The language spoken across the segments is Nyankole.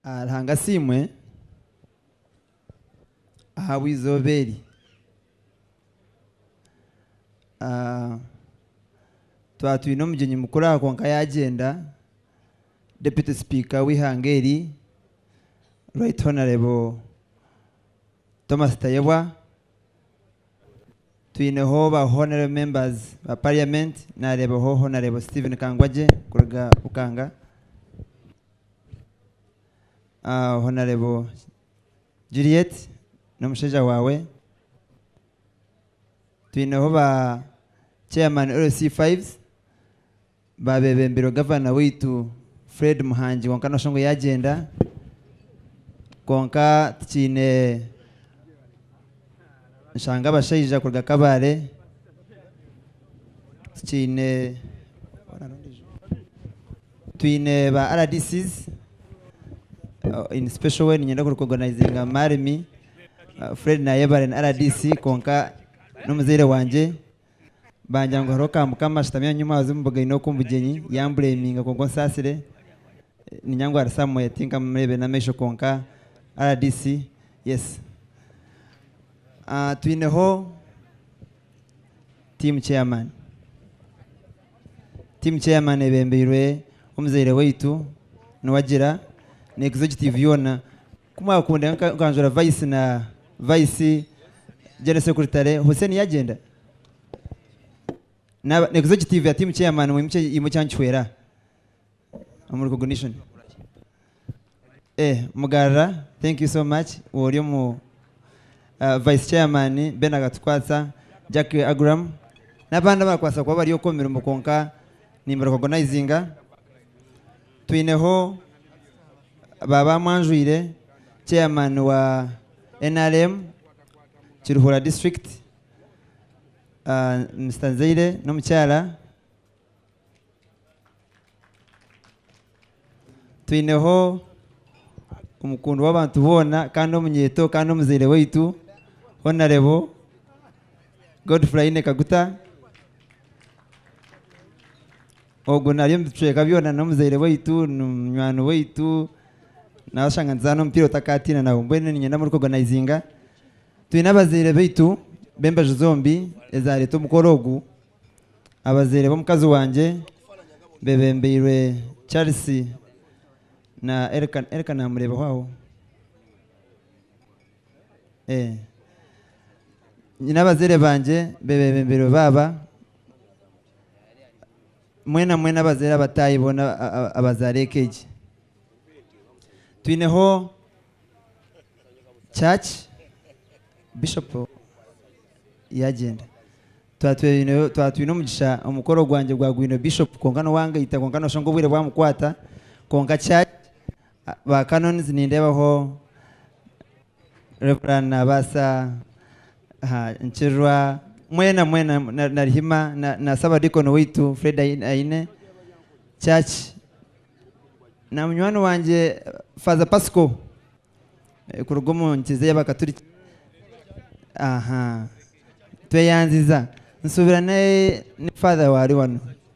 Ruhanga asiimwe ahabw'eizooba eri. Twaba twine omugyenyi mukuru aha kwonka yaagyenda, Deputy Speaker w'eihanga eri, Right Honourable Thomas Tayebwa, twineho ba Honourable Members ba Parliament, naareebaho Honourable Stephen Kangwagye kuruga Bukanga, Ah, Honarebo Juliet n'omushaija waawe. Twineho ba Chairman LC Fives, baabebembirwe Gavana waitu Fred Muhangi kwonka noshusha ngu yaagyenda. Kwonka tukiine nshanga abashaija kuruga Kabale tikiine twine ba RDCs uh, in special way ninyenda kurecognizinga Marimi uh, Fred Nayebare ni RDC konka n'omuzaire wangye Bangira ngu hariho ka mukama ashutami aha nyuma abazimu bugaine oku mbugyenyi yambureminga kwonka onsaasire ninya ngu ari somewhere tinkamureebire n'amaisho kwonka rdc yes Ah, twineho team chairman team chairman ebembeirwe omuzaire waitu niwagira nekizo kiti byona Ku mwakunda nka nkanjura vice na vice Gen Secretary Hussein yagyenda naba na executive ya team chairman mwe mukye imwe kyankihwera omu recognition eh mugarura thank you so much wori omu ah, vice chairman Ben akatukwatsa Jack Agram nabandi abakwasa kuba bari oku omu mirimo kwonka nimba recognizinga Twineho ba Bamwanjwire, Chairman wa nrm Kiruhura District, Mister Nzeire n'omukyara. Twineho omukundwa w'abantu boona kandi omunyeeto kandi omuzaire waitu Honarebo Godfrine Kaguta. Ogwo nari omu bicweka byona n'omuzaire waitu, n'omunywani waitu, nawashanga nituzaana omupiira otakaatiina nawe. Mbwenu niinyenda muri koganayizinga. Twine abazaire baitu b'embaju zombi ezaareeta omukoro ogu. Abazaire b'omukazi wangye bebembeirwe Charles na Elka, Elka naamureebaho aho? Eeh. Nyine abazaire bangye bebebembeirwe baaba. mwena mwena abazaire abataahi boona a- a- abazaara eka egi twineho church bishop yagyenda Twa- twineho- twa- twine omugisha omukoro gwangye gwagwine bishop kwonka nowangaita kwonka noshanga obwire bwamukwata kwonka church a- ba canons nindeebaho Rev. Naabaasa Nkirirwa, mwena mwena, na Narihima, na, na Ssabadiikoni waitu Fred Ai- Aine, Church, na munywani wangye Faaza Pasiko, eh, kuruga omu nkiriza y'Abakaturiki. Aha. Tweyanziza. Nsuubira ne, ne Faather waari wanu.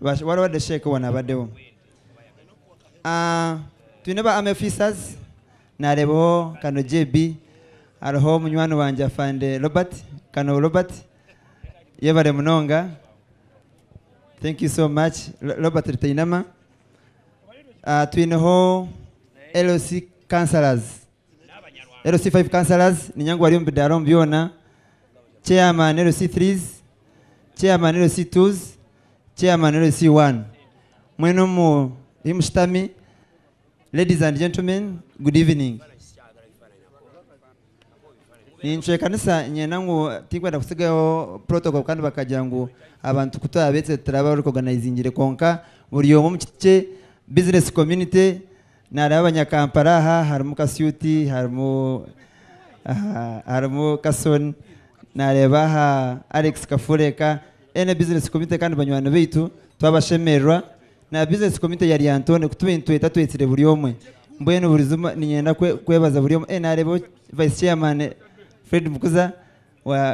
Bash- wari wadde sheeka owo nabadeho Ah, twine ba army officers nareebaho kano jb hariho munywani wangye afande robert kano robert yebare munonga thank you so much Ro- robert rutainama Ah, twineho loc councillors LC 5 councillors ninya ngu bari omu bidaara omu byona, chairman LC 3s, chairman LC 2s, chairman LC 1. Mwena omwe ahi mushutami, ladies and gentlemen, good evening. Nincwekanisa niinyenda ngu tinkwenda kutsigaho protocol kandi bakagira ngu abantu ku twabeitse turaba recognisingire kwonka buri omwe omu kiti kye, business community, Nareeba abanyakampala aha harimu kasuuti harimu harimu kasoon nareeba aha Alex kafureeka ena business committee kandi banywani baitu twabashemererwa na business committee ya lyantonde kutuba itwe tatwetsire buri omwe mbwenu burizima ninyenda kwebaza buri omwe nareeba vice chairman Fred Mukuza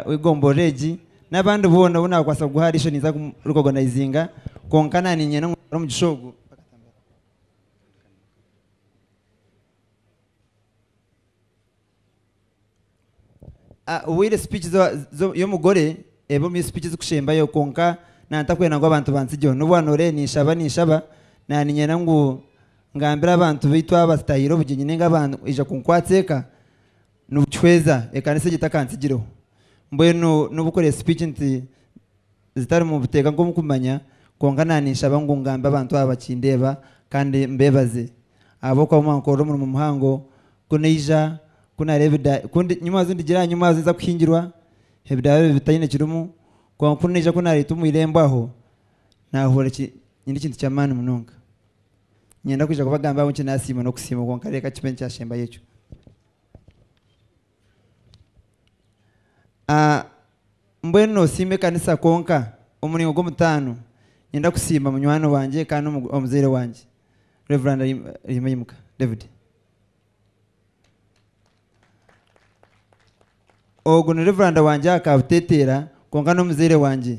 wegomborora egi nabandi boona obu nakwasa kuguha ariisho ninza kumu recognizinga kwonka nanye ninyenda ngu omugisha ogu. Ah, ohwire speech zo, zo, y'omugore ebe omu speech zikushembayo kwonka nantakwenda ngu abantu bansigyeho n'obu wanooreye ninshaba ninshaba na ninyenda ngu ngambire abantu baitu abazitahiire obugyenyi ninga abaija kunkwatsa eka Nibukihweza ekanisa egyo etakantsigireho. Mbwenu nobu kuri speech nti zitari mu buteeka nkomu kumanya kwonka na ninshaba ngu ngambe abantu aba bakindeeba kandi mbebaze ahabwokuba mwankorera omurimo muhango ku naija ku nareeba eda ku ndi nyuma haza ndigira aha nyuma haza nza kuhingirwa ebidara bibi bitaine kirimu kwonka ku naija ku naretwa omu irembo aho nahurira ki nyine ekintu kyamani munonga. Ninyenda kwija kubagambira ahabwokyi nasiima nokusiima kwonka reka kibe nikyashembayo ekyo. Ah, mbwenu nosiima ekanisa kwonka? Omuringo gw'omutaano, niinyenda kusiima munywani wangye kandi omu- omuzaire wangye, Rev. Ahi- Ahimuhimuka David. Ogu ni Rev. wangye aha Kabuteteera, kwonka n'omuzaire wangye.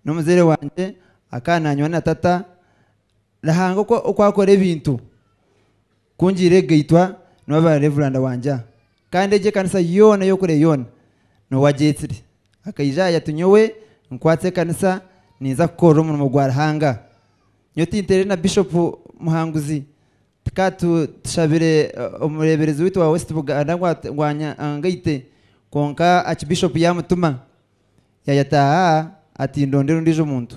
N'omuzaire wangye akaba nanywa na tata, Ruhanga oku- oku akora ebintu. Ku ngiire egaitwa, nooba revuranda wangye aha, kandi egi ekanisa yoona ey'okure yoona noowe agyetsire. Akaija aha yatu nyowe nkwatse ekanisa ninza kukorera omurimo gwa Ruhanga. Nyowe tinteire na Bishopu Muhanguzi, tuka tu tushabire omureeberezi waitu owa West Buganda ngu at ngu anya angaite, kwonka Archbishop yaamutuma, yaayataaha aha ati ndondera ondiijo muntu.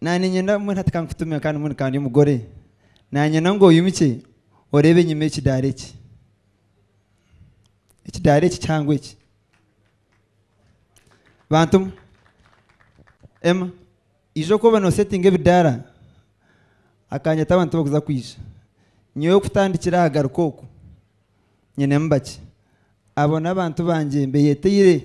Naanye niinyenda mbwenu hati ka nkutume kandi mbwenu ka ndi omugore. Naanyenda ngu oimukye oreebe enyima y'ekidaara eki. Ekidaara eki kihango eki. Bantu mwe! Emma, ija oku oba noosetinga ebidaara, akanyeta abantu abu orikuza kwija. Nyowe kutandikira aha garuka oku, nyinemu bakye. Abo n'abantu bangye mbeeyeteire.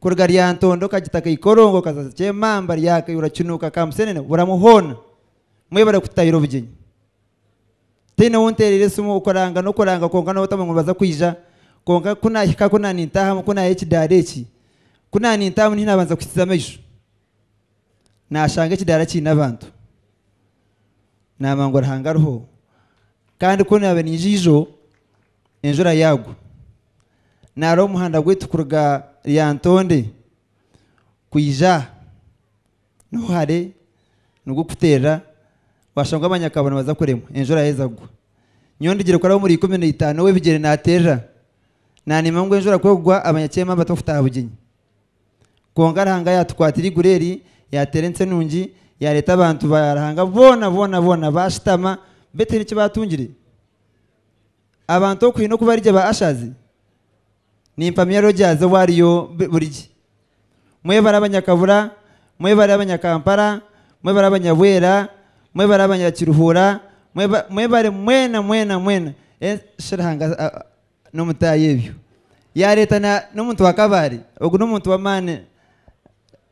kuruga Lyantondo okagita Kaikorongo okaza Kyemamba, Ryakayura, Kinuuka, Kamusenene, Buramu hoona mwebare kututaahira obugyenyi. Ntaine ou nteerire esimu, okuranga n'okuranga kwonka n'obutamanya ngu nibaza kwija kwonka ku naahika ku naanintaahamu ku naaha ekidaara eki, ku naanintaahamu niho naabanza kuhikiza amaisho naashanga ekidaara kiine abantu. Naamanya ngu Ruhanga ariho kandi ku naabe naija ijo enjura yaagwa. Nari omuhanda gwaitu kuruga Lyantonde kwija aha niho hare nigukuteerera, waashanga abanyakabari nibaza kuremwa enjura yaaheza kugwa. Nyowe ndigire kukorera omuri ikumi na itaano ow'ebigyere naateerera, naaniima ngu enjura ku ekugwa abanyakyema mbateho kutaaha Bugyenyi. Kwonka Ruhanga yaatukwatira eiguru eri, yaateera ensi enungi, yaareeta abantu ba Ruhanga boona boona boona baashutama, beitu haine eki baatungire. abantu okuhina oku barigye ba Ashazi, nimpamya Rogers ou ariyo buri gye. Mwebare abanyakabura, mwebare abanyakampara, mwebare abanyabwera, mwebare abanyakiruhura, mweba mwebare mwena mwena mwena e shi Ruhanga a a n'omutaahi ebyo. Yaareeta na n'omuntu wa Kabale, ogu n'omuntu w'amaani.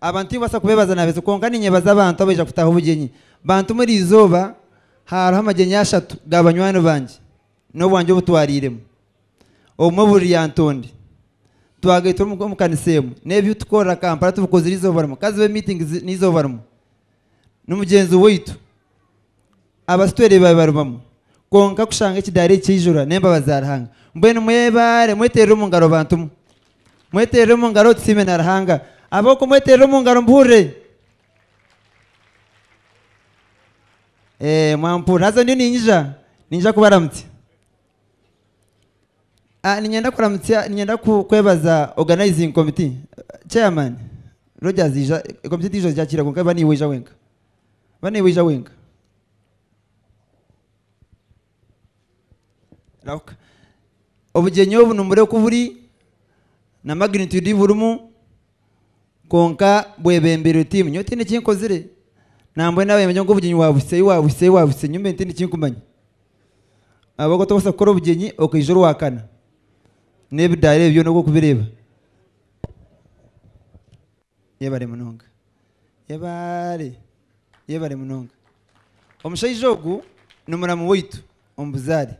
Abantu tinkubaasa kubeebaza na bizi, kwonka niinyebaza abantu abaija kutaho obugyenyi. Bantu omuri eizooba hariho amagyenyi ashatu ga banywani bangye n'obwangye obu twariiremu. Obumwe buri Lyantonde. Twagaitwa omu kanisa emwe. N'ebi tukora Kampala tubikozire eizooba rimwe. Ka zibe miitingi n'eizooba rimwe. n'omugyenzi waitu abasi twereeba bibarubamu kwonka kushanga ekidaara eki kyaijura n'embabazi za Ruhanga mbwenu mwebaare mweterere omu ngaro bantu mwe mweterere omu ngaro tusiime na Ruhanga ab'oku mweterere omu ngaro mbuhurire Eeh mwampurira haza ndiyo ninyija ninyija kubaramutsya Ah, ninyenda kuramutsya ninyenda ku- kwebaza organizing committee chairman Rogers ija komiti endiijo ija kukira kwonka ba niiwe oija wenka ba niiwe oija wenka rahuka obugyenyi obu nimureba oku buri na magnitude ei burimu Kwonka bwebembera oti, Nyowe tihaine eki nkozire. Nambwenu abebembera ngu obugyenyi wabuhitsei, wabuhitsei, wabuhitsei nyowe mbwenu tihaine eki nkumanya. Ahabw'okuba otakubaasa kukora obugyenyi okaija orwakana. N'ebidaara ebyo byona oku orikubireeba. Yebare munonga. Yebare. Yebare munonga. Omushaija ogu ni muramu waitu omu buzaare.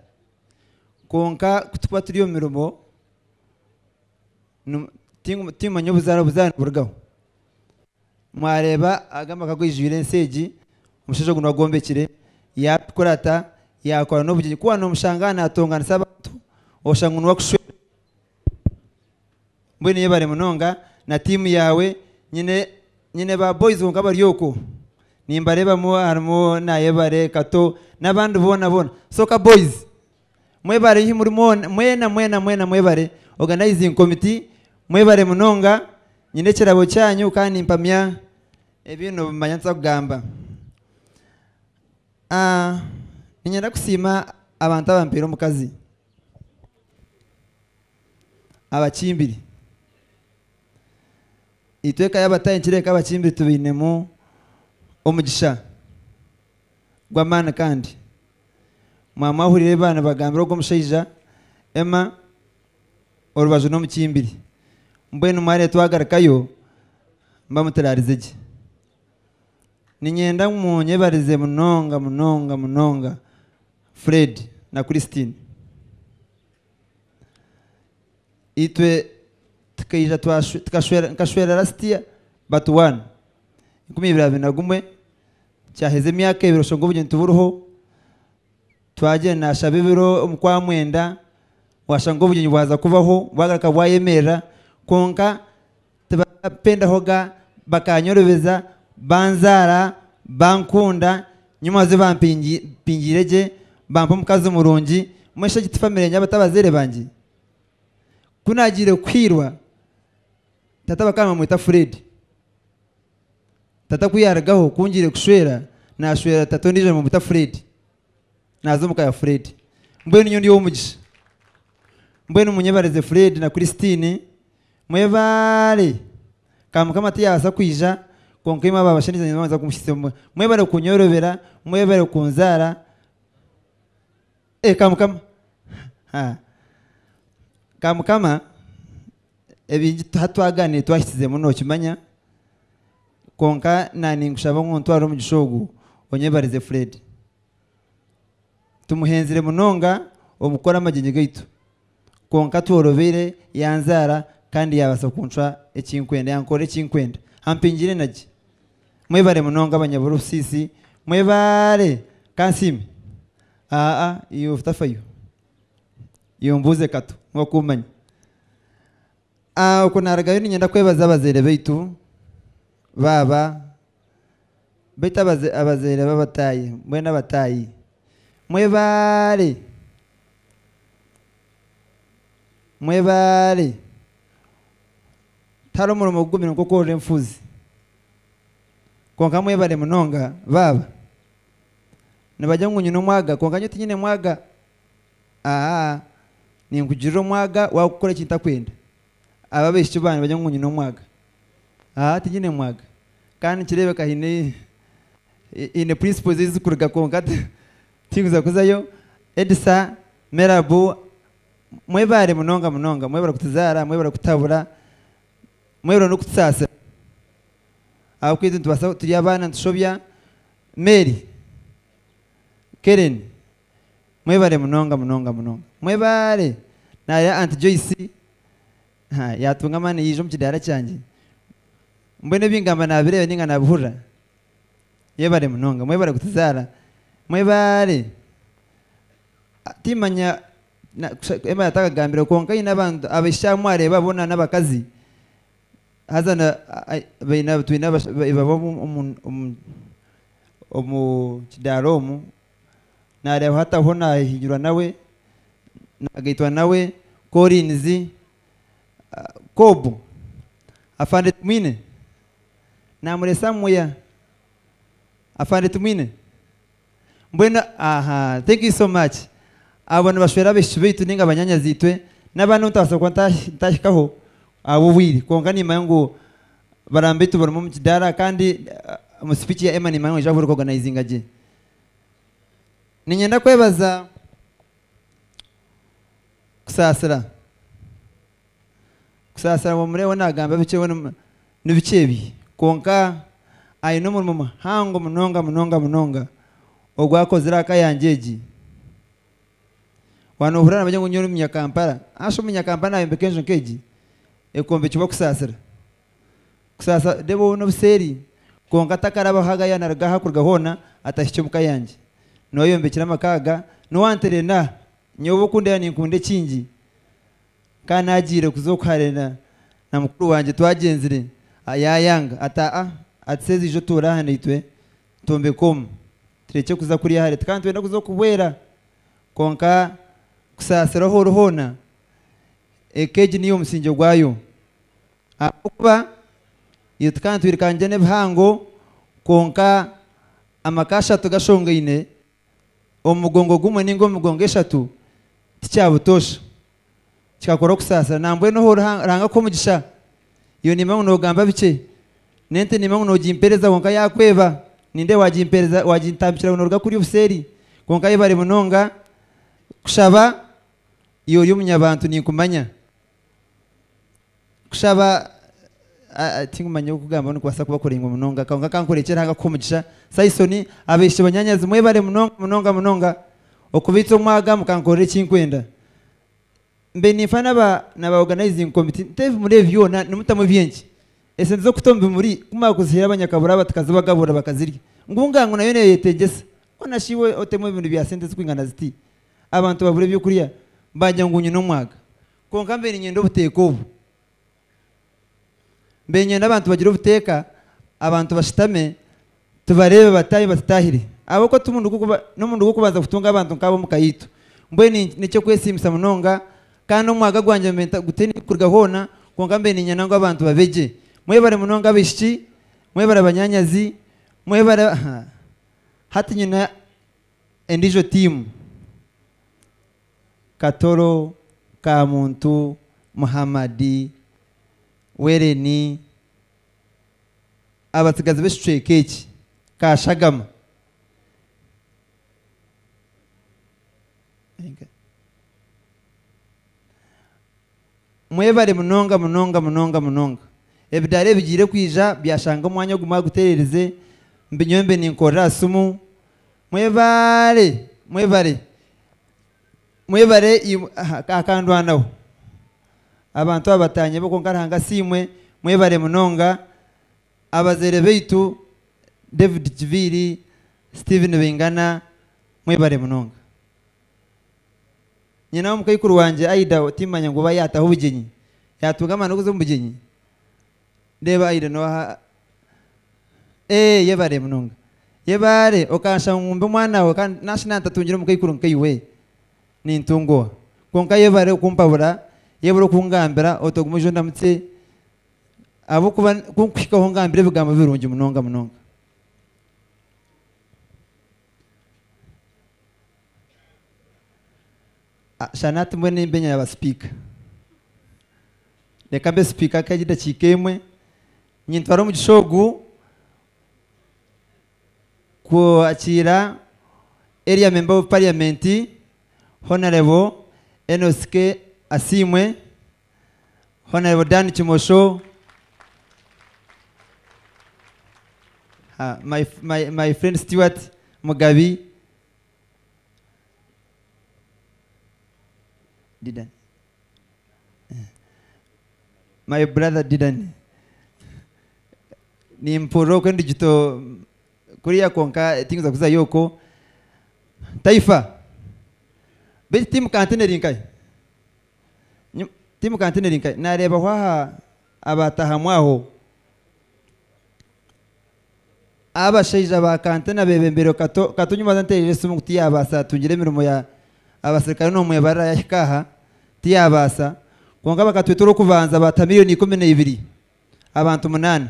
Kwonka ku turikuba turi omu mirimo. Nu- tingu- Timumanya obuzaaro obuzaaro niburugaho. Mwareeba aga amaka gaijwire ensi egi, omushaija ogu niwe agombekire, yaakora ata, yaakora n'obugyenyi. Ku waaba noomushanga naatonganisa abantu, oshanga ngu niwe akushwera. Mbwenu yebare munonga na tiimu yaawe. Nyine nyine ba boys kwonka bari okwo. Nimbareebamu harimu Nayebare, Kato, n'abandi boona boona. Soka Boys. Mwebare ahi muri mwona, mwena mwena mwena mwebare, organizing committee mwebare munonga, nyine ekirabo kyanyu kandi nimpamya ebi nobimanya nituza kugamba. Ah, niinyenda kusiima abantu abampiire omukazi, abakimbiri, itwe eka y'Abatahi nikireebeka abakimbiri tubainemu omugisha. gw'amaani kandi mwaba mwahuriire ebi baanibagambira ogwo mushaija, Emma, orubaju n'omukimbiri. Mbwenu mwariya twagarukayo mba muturaarize gye. Niinyenda ngu munyebarize munonga munonga munonga Fred na Christine. Itwe tukaija twashwe, tukashwera, nkashwerera Rustia, Batuwani, enkumi ibiri abiri na gumwe. Kyaheza emyaka ebiri oshanga obugyenyi tiburiho, twagira naashaba ebiro omu kwa mwenda, waashanga obugyenyi bwaza kubaho, bwagaruka bwayemerera, kwonka tibapendaho ga bakanyorobeza, banzaara, bankunda, nyowe manzi bampingi mpingiire gye, bampa omukazi murungi, mwesha egi ti famire yangye aba ti abazaire bangye? Ku naagiire kuhwirwa, tata bakaba nibamweta Fred. Tata ku yaarugaho kungire kushwera, naashwera tata ondiijo nibamuta Fred. Naaza omu ka ya Fred. Mbwenu nyowe ndi ow'omugisha. Mbwenu munyebarize Fred na Christine, mwebaare. Ka Mukama tiyaabaasa kwija, kwonka imwe abaabashandize nyowe nibanza kumushisya omu. Mwebare kunyorobera, mwebare kunzaara. Ee, ka Mukama. Ha. Ka Mukama. Ebingi tuha twagaaniire twahitsizemu nookimanya, kwonka na ninkushaba ngu ntware omugisha ogu onyebarize Fred. Tumuhenzire munonga omu kukora amagyenyi gaitu, kwonka tworobeire yanzaara kandi yaabaasa kuncwa eki nkwenda, yankorera eki nkwenda, ampingira enagye. Mwebare munonga banyaburusiisi, mwebaare! Ka nsiime. Aa, iwe otafayo. Iyo mbuuze katu, nk'oku manya. Ah, okwo naarugayo niinyenda kwebaza abazaire baitu, baaba, baitu abaza, abazaire b'abataahi, mbwenu abataahi. Mwebaale. Mwebaale. Tihariho murimo gugumire nk'okworora enfuuzi. Kwonka mwebale munonga, baaba. Nibagire ngu nyine omwaga, kwonka nyowe tinyine mwaga. Aa, ninkugirira omwaga waakukora eki ntakwenda. Abo abaishiki bangye nibagira ngu nyine omwaga. Aa, tinyine mwaga. Kandi nikireebeka haine haine principles ei zirikuruga kwonka ti, tinkuza kuzayo. Edisa, Merabu, mwebaare munonga munonga. Mwebare kutuzaara, mwebare kutuhabura, mwebare n'okutusaasira. Ahabw'okuba itwe nitubaasa turi abaana nitushobya. Mary, Kereni, Mwebare munonga munonga munonga. Mwebaale! Nareeba Aunt Joyce ha, yaatunga amaani yaija omu kidaara kyangye. Mbwenu ebi ngamba naabireeba nainga naabihurira. Yebare munonga. Mwebare kutuzaara. Mwebaale! A, Timmanya, na, kusha, Emma yatakagambire, kwonka aine abantu, abaishiki abu mwareeba boona n'abakazi, haza na, a, a, baine, twine abasha, ba, ibaba omu, omu, omu, omu kidaara omu. Naareeba hataho naahihinyirwa nawe, naagaitwa nawe, Collins, Cobb, Afande Tumwine, Naamure Samuya, Afande Tumwine, Mbwenu aha, thank you so much. Abo nibashwera abaishiki baitu nainga banyaanyazi-itwe, n'abandi abu ntabaasa kuba ntaahikaho ahabw'obwire, kwonka niimanya ngu baramu baitu barimu omu kidaara kandi omu speech ya Emma niimanya ngu naija kuba orikuoganizinga gye. Niinyenda kwebaza Kusaasira. Kusaasira ngu omureeho naagamba bikye we ni- ni bikye ebi. Kwonka aine omurimo muhango munonga munonga munonga ogu akozire aha ka yangye egi. Waaba noohurira naagira ngu nyowe ndi Munyakampala, haasha Omunyakampala naayombeka enju nk'egi, ekombekirwe Kusaasira. kusaasa Debo ou n'obuseeri, kwonka takarabaho agaya naruga aha kuruga hoona atahikye omu ka yangye. Niwe ayombekyire amaka aga, niwe antereera aha, nyowe obu okundeeba ninkunda ekingi, kandi naagiire kuza oku hare na na mukuru wangye twagyenzire, yaayanga, ati aa, ati seeza ija otuure aha naitwe, twombeke omu, turekye kuza kuriya hare, tukaba nitwenda kuza okuhwera, kwonka kusaasira ahu ori hoona, eka egi niyo omusinge gwayo. Ahabw'okuba itwe tukaba nitwirukangye n'ebihango, kwonka amaka ashatu gashongaine omu mugongo gumwe nainga omu migongo eshatu tikyabutoosha. Kikakora okusaasira. Nambwenu hoo Ruhanga akuhe omugisha. Iwe nimba ngu noogamba bikye. N'ente nimba ngu noogimpeereza kwonka yaakweba, nindeeba waagimpeereza waagintambikira ngu nooruga kuri obuseeri. Kwonka yebare munonga kushaba, iwe ori omunyabantu ninkumanya. Kushaba tinkumanya oku okugamba nikubaasa kuba kuraingwa munonga kwonka ka nkurekyere aha kukuha omugisha. Saison, Abaishiki banyaanyazi mwebare munonga munonga munonga okubaitsa omu aga mukankorera eki nkwenda. Mbe ninfa naba naba organizing committee nte ebimuri ebi byona nimutamu eby'enki? Esente z'okuta omu bimuri kumara kuziha abanyakabura aba tukazibagaburira bakazirya ngu nga ngu nayo neeyetegyesa. Hoona shi iwe otemu ebimuri bya sente zirikwingana ziti? abantu babura eby'okurya baagira ngu nyine omwaga. Kwonka mbaire niinyenda obuteeka obu. Mbaire niinyenda abantu bagire obuteeka, abantu bashutame tubareebe bataahi batutaahire. Ahabw'okuba timurungi kuba n'omurundi gw'okubanza kutunga abantu nk'abo omu ka itwe. Mbwenu n'eky'okwesiimisa munonga kandi omwaga gwangye mbaire ntagutaine ahu kuruga hoona kwonka mbaire niinyenda ngu abantu babe gye. Mwebare munonga abaishiki, mwebare abanyaanyazi, mwebare ha. Hati nyine Endiijo tiimu, Katoro ka muntu, Muhammad, Wereni, abatsigazi b'ekicweka eki, Kashagama, Mwebare munonga munonga munonga munonga. Ebidaara ebigiire kwija byashanga omwanya ogu mwaguteererize, mbi nyowe mbe ninkorera aha simu. Mwebare! Mwebare! Mwebare imwe aha akandwanaho. Abantu aba batanyebo kwonka Ruhanga asiimwe. Mwebare munonga. Abazaire baitu David Kiviiri, Steven Baingana, mwebare munonga. Nyina wa mukaikuru wangye Aida ou timmanya ngu oba yaataho obugyenyi, yaatunga amaani g'okuza omu bugyenyi? Reeba Aida n'owaha? Ee, yebare munonga. Yebare okanshaba ngu mbe omwanawe kandi naashi naantatungire omukaikuru nkaiwe, nintunga oha? Kwonka yebare okumpabura, yebare okungambira oti ogume oije ondamutse, ahabw'okuba ku nkuhikaho ongambira ebigambo birungi munonga munonga. Shana hati mbwenu nimba enyima ya basipiika. Reka mbe sipiika nk'egi edakiika emwe, nintwara omugisha ogu kwakiira Area Member of Parliament Honarable Enos K. Asiimwe. Honorable Dan Kimosho. Ah, my, f- my, my friend Stuart Mugabi. Didan. Eh. My brother Didan. Nimpurira okwo endigito kuriya kwonka tinza kuzayo okwo. Taifa. Beitu tiimu kantine eri nkahe? Nyu- Tiimuka ntiniri nka- naareebaho aha abaataahamu aho. Abashaija ba Kantene abeebembireho Kato, Kato nyuma haza nteereire esimu ngu tiyaabaasa atungire emirimo ya abaserikare noomwebarira yaahika aha, tiyaabaasa. Kwonka bakatweta orw'okubanza baataha milioni ikumi na ibiri, abantu munaana.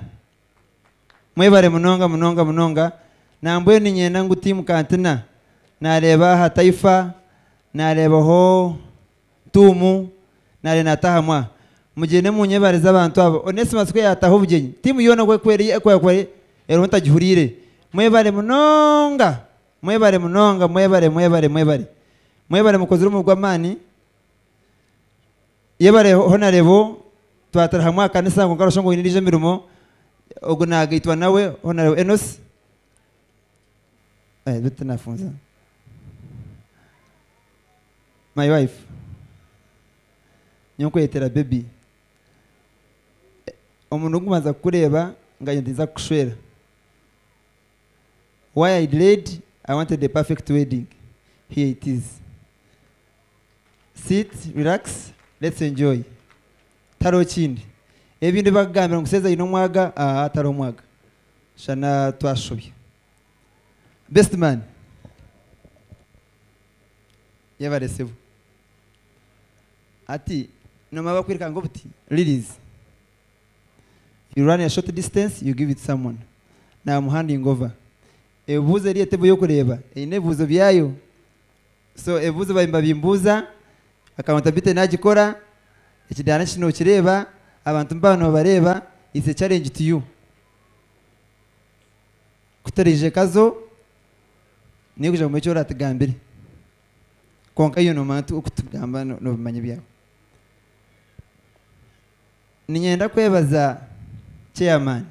Mwebare munonga munonga munonga. Nambwenu niinyenda ngu tiimuka ntina. Naareeba aha Taifa, naareebaho Tuumu, nareeba naataaha mwa. Mugyende munyebarize abantu abo. Onesmus ku yaataaha obugyenyi, tiimu yoona oku ekwerire eku ekore eriho ntagihuriire. Mwebare munonga. Mwebare munonga. Mwebare, mwebare, mwebare. Mwebare mukozire omurimo gw'amaani. Yebare Honarebo, twatara hamwe aha kanisa kwonka noshusha ngu oine endijo emirimo, ogu nagaitwa nawe Honarebo Enos. Eh, bitu tinafunza. My wife. Nyowe nkweyetera baby. Eh, Omurundi ogukubanza kukureeba nganye ninza kukushwera. Why I delayed, I wanted a perfect wedding. Here it is. sit relax let's enjoy tihariho kindi ebindi ebibakugambira ngu seeza aine omwaga aa tihariho mwaga shana twashobya best man yebare sebo hati nomara bakwiruka ngu buti lilies you run a short distance you give it someone namu handing over ebibuzo eri etebo yokureeba eine ebibuzo byayo. So ebibuzo baabaire nibabimbuuza akaba Tabitha nagikora, ekidaara ki nokireeba, abantu nibaba nibabareeba, it's a challenge to you. Kutaraija ekazo niyo kugira ngu omanye eki oratugambire kwonka iwe nomanya nti okutugamba nobimanya ebyawe. Ninyenda kwebaza chairman.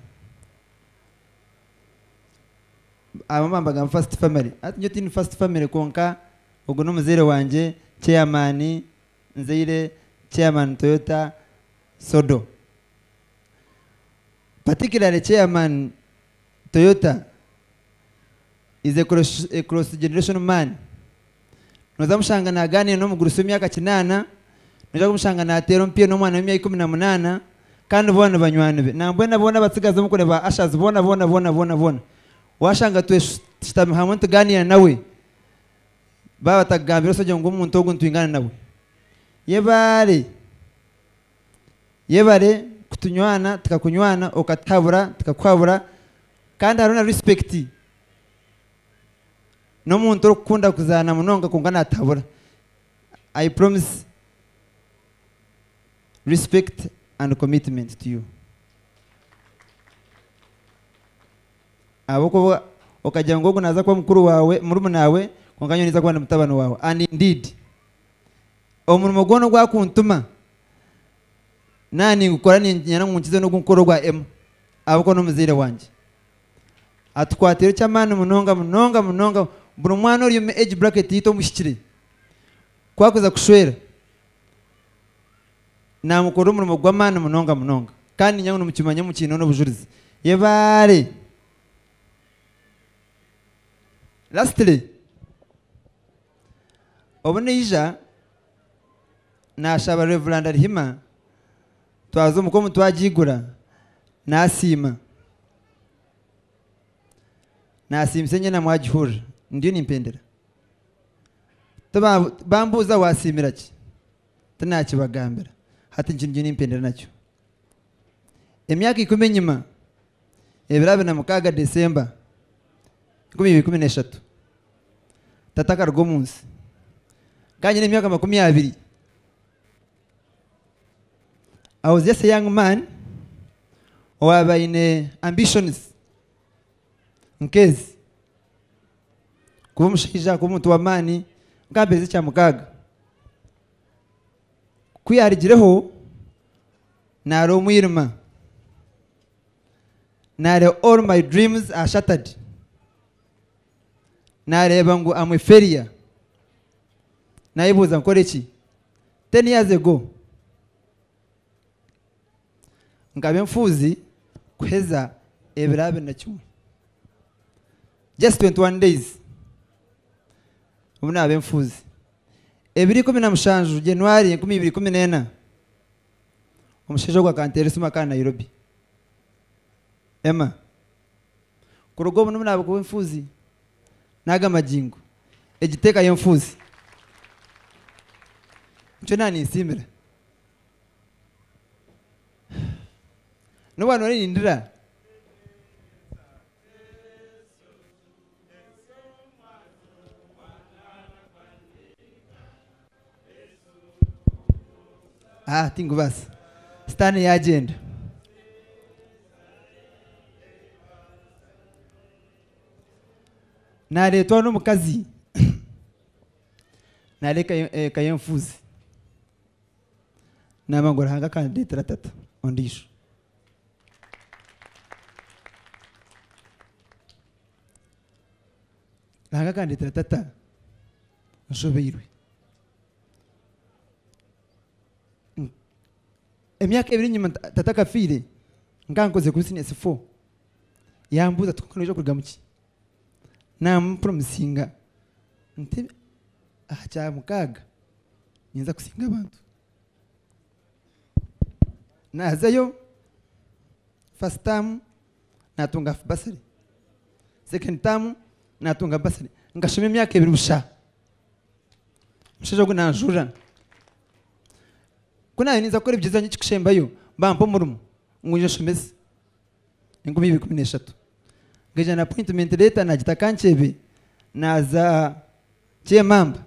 Abamwe nibagamba first family hati nyowe tihaine first family kwonka ogu n'omuzaire wangye chairman nzaire chairman Toyota Sodo. Particularly chairman Toyota is a cross generational man. Nooza mushanga naagaaniira n'omugurusi w'emyaka kinaana, noija kumushanga naateera omupiira n'omwana w'emyaka ikumi na munaana, kandi boona nibanywani be. Nambwenu aboona abatsigazi omu kure ba Ushers, boona boona boona boona boona, waashanga tweshutami hamwe nitugaaniira nawe, baaba batakugambire osagire ngu omuntu ogu nitwingana nawe. Yebare, yebare kutunywana tukakunywana, okatuhabura tukakuhabura, kandi hariho na rispekiti. n'omuntu orikukunda kuzaana munonga kwonka natahabura I promise respect and commitment to you ahabw'okuba okagira ngu ogu naza kuba mukuru wawe murumunaawe kwonka nyowe ninza kuba ndi mutabani wawe and indeed omurimo gwona ogu akuntuma naaba ningukora niinyenda ngu nkize n'ogu nkukora ogwa Emma ahabw'okuba n'omuzaire wangye. atukwatiire eky'amaani munonga munonga munonga. Buri mwana ori omu age bracket yaitu omuhikire, ku arikuza kushwera, naamukorera omurimo gw'amaani munonga munonga. Kandi niinyija ngu nimukimanya mukiineho n'obujurizi. Yebaare! Lastly, obu naija, naashaba Rev. Rehema, Twaza omuka omuntu agiigura naasiima. Naasiimisa enyena mwagihurira ndiyo nimpendera. Tiba bambuuza waasiimira ki? Tinaakibagambira. Hati nikyo ndiyo nimpendera nakyo. Emyaka ikumi enyima, ebiro abiri na mukaaga December enkumi ibiri ikumi n'eshatu, tata akaruga omu nsi. Nkaba nyine emyaka makumi abiri. I was just a young man owaabaire aine ambitions nk'ezi. Kuba omushaija, kuba omuntu w'amaani nkampeza ekya mukaaga. Ku yaarugireho naareeba omwirima, naareeba all my dreams are shattered. nareeba ngu am a failure nayebuuza nkore ki ten years ago nkaba enfuuzi kuheza ebiro abiri na kimwe just 21 days obu naba enfuuzi ebiro ikumi na mushanju January enkumi ibiri ikumi n'ena omushaija ogu akanteera esimu akaba Nairobi Emma kuruga obu nimu naabikuba enfuuzi n'aga magingo egi teeka y'enfuuzi nikyo naaba ninsiimira. N'obu waaba nooba nindira. Ah, tinkubaasa sitaani yaagyenda naareetwa n'omukazi naare eka y'e- eka y'enfuuzi naaba ngu ruhanga akandeetera tata ondiijo ruhanga akandeetera tata nshobeirwe. Emyaka ebiri enyima tata akafiire nkaba nkozire business four yambuuza ati kwonka noija kurugamu ki? Namupromisinga nti aha kyamukaaga ninza kusinga abantu. Nazayo first term. natunga half bursary second term natunga bursary nkashoma emyaka ebiri busha omushaija ogu nanjurira ku nanye ninza kukora ebigyezo byangye ekikusembayo bampa omurimo ngu ngye nshomese enkumi ibiri ikumi neshatu nkagenda na appointment letter nagita nka nkyebe naza kyemamba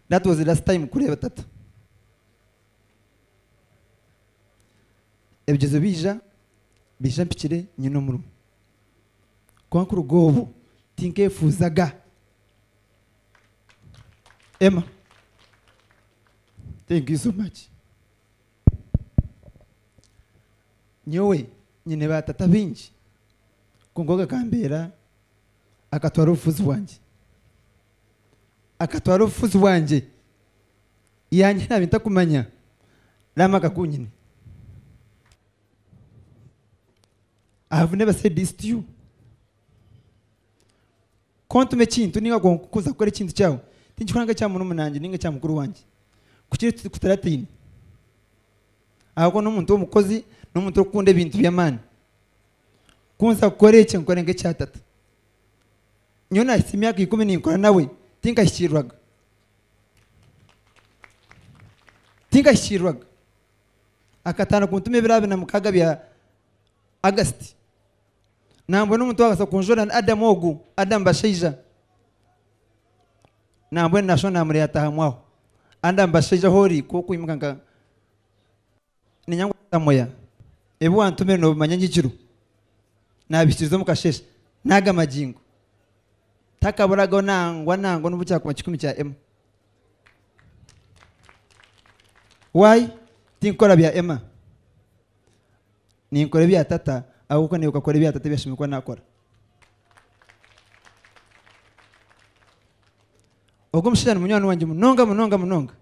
that was the last time kureeba tata. Ebigyezo biija, biija mpikire nyine omurimo. Kwonka kuruga obwo tinkeefuuzaga. Emma, Thank you so much. Nyowe nyine baatata baingi kwonka ogwo akambeera, akatwara obufuzi bwangye. Akatwara obufuzi bwangye Yangye naabe ntakumanya Raama akakunyine I have never said this to you Ku ontuma ekintu ninga ku kuza kukora ekintu kyawe tinkikora nka ekya murumuna wangye ninga ekya mukuru wangye kukira eki kutarataine ahabw'okuba n'omuntu w'omukozi n'omuntu orikukunda ebintu by'amaani Ku nza kukora ekyo nkikore nka ekya tata Nyowe naahitsya emyaka ikumi ninkora nawe tinkahikiirwaga. Tinkahikiirwaga. Akatandika kuntuma ebiro abiri na mukaaga bya August. Nambwenu omuntu waabaasa kunjwera ni Adam ogu, Adam Bashaija. Nambwenu naashusha naamureeta aha mwaho. Adam Bashaija ahu ori ku okwimuka nka. Niinyanga obutamoya. Ebi wantumire noobimanya nyigirwe. Naabihikiriza omu kasheeshe. N'aga magingo. Takaburagaho nangwa nangwa n'obu kyakuba kikumi kya ema. Why? Tinkukora bya ema. Ninkora ebya Tata ahabw'okuba naiwe okakora ebya Tata ebi ashemereire kuba naakora. Ogwo mushaija ni munywani wangye munonga munonga munonga.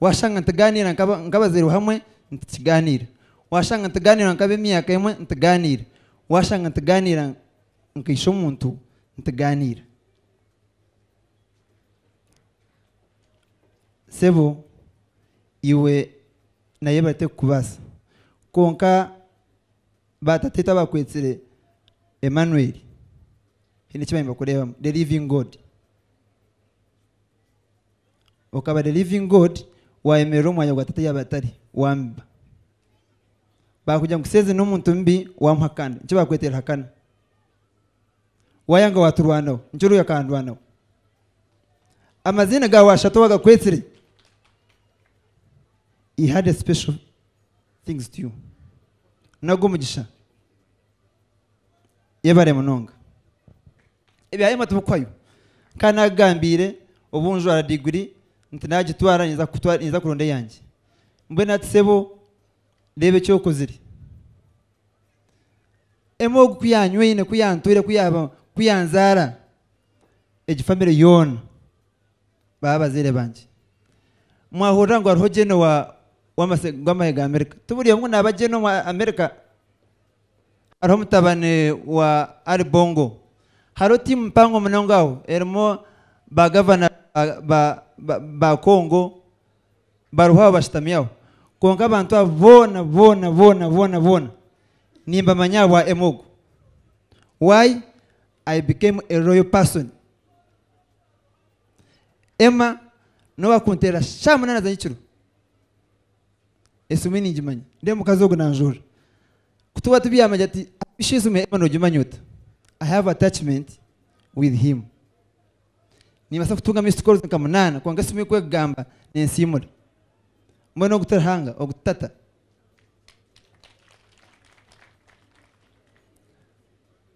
Waashanga nitugaaniira nk'abazairwe hamwe, nitukigaaniira. Waashanga nitugaaniira nk'ab'emyaka emwe, nitugaaniira. Waashanga nitugaaniira nka ishe-omuntu, nitugaaniira. Sebo, iwe naye bateekukubaasa. Kwonka baatateetu abaakwetsire Emmanueli, haine eki baabaire nibakureebamu, the living God. okaba the living God wayemerera omu mwanya gwa tata yaaba atari wamiba bakugira ngu seezi n'omuntu mubi wamuha kando nikyo bakweteera hakana wayanga waturwanaho nikyo ruri akandwanaho amaziina gaawe ashatu wagakwetsire he had a special things to you nago omugisha yebare munonga Ebya Emma tibikwayo. Nkaba naagigambiire obu njwara diguri nti naagitwara niinza kuronda eyangye. Mbwenu ati sebo reeba eki okozire. Emma ogu ku yaanywaine, ku yaantwire, ku yaanzaara, egi famire yoona baba abazaire bangye. Mwahurira ngu hariho Jane ow'amahe ga Amerika, tiburi omwe naaba Jane ow'amahe ga Amerika. Hariho mutabani wa Ali Bongo. Hariho tiimu mpango munonga aho erimu ba gavana ba Congo bariho aho bashutami aho. Kwonka abantu abo boona boona boona boona boona nimbamanya ahabwa Emogo. Why? I became a royal person. Emma nowakunteera shaamunana z'anyekiro. Esume ningimanya. Reeba omukazi ogu nanjorora. Ku tuba tubyami agira ati, Aisha esume Emma nogimanya ota? I have attachment with him. Nimbaasa kutunga missed calls nka munaana kwonka esimu ei kwekugamba ninsiimura. Mbwenu ogu ti Ruhanga, ogu ti tata.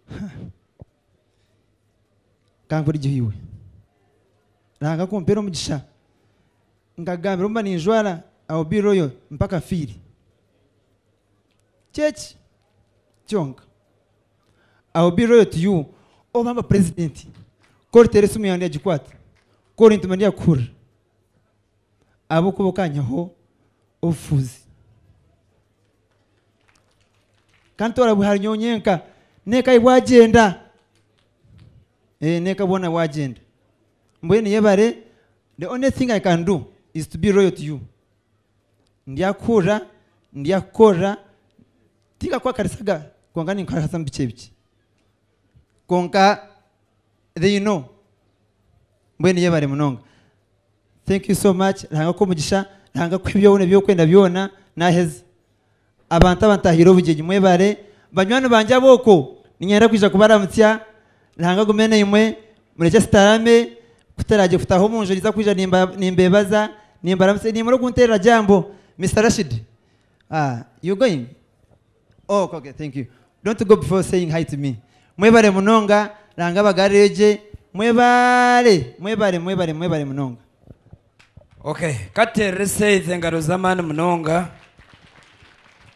Huh. Kankurigye iwe Ruhanga kumpera omugisha nkagambira obu mba ninjwara I'll be royal mpaka fiire Ky'eki kyonka I'll be royal to you Obu mba president ku oriteera esimu yaawe ndiyagikwata Ku orintuma ndiyakuhurira ahabw'okuba okanyihaho obufuzi. Kantoora bwe harinyowe nyenka, n'eka yi bwagyenda, n'eka bwona bwagyenda. Mbwenu yebare, the only thing I can do is to be loyal to you. Ndyakuhurira, ndyakukorera, tinkakuhakarisa ga, kwonka ninkuhakarisa bikye bikye. Kwonka. they know mbwenu yebare munonga thank you so much ruhanga akuhe omugisha ruhanga akuhe byona ebyokwenda byona naheza abantu abantahire obugyenyi mwebare banywani bangye aboko ninyenda kwija kubaramutsya ruhanga agume naimwe murekye tutarame kutaragye kutaha omunju ninza kwija nimba nimbebaza nimbaramutsa nimura okunterera jambo Mister Rashid ah you going ok ok thank you don't go before saying hi to me mwebare munonga ranga abagarireyo gye mwebare mwebare mwebare mwebare munonga. Ok, ka tuteerere Seith engaro z'amaani munonga.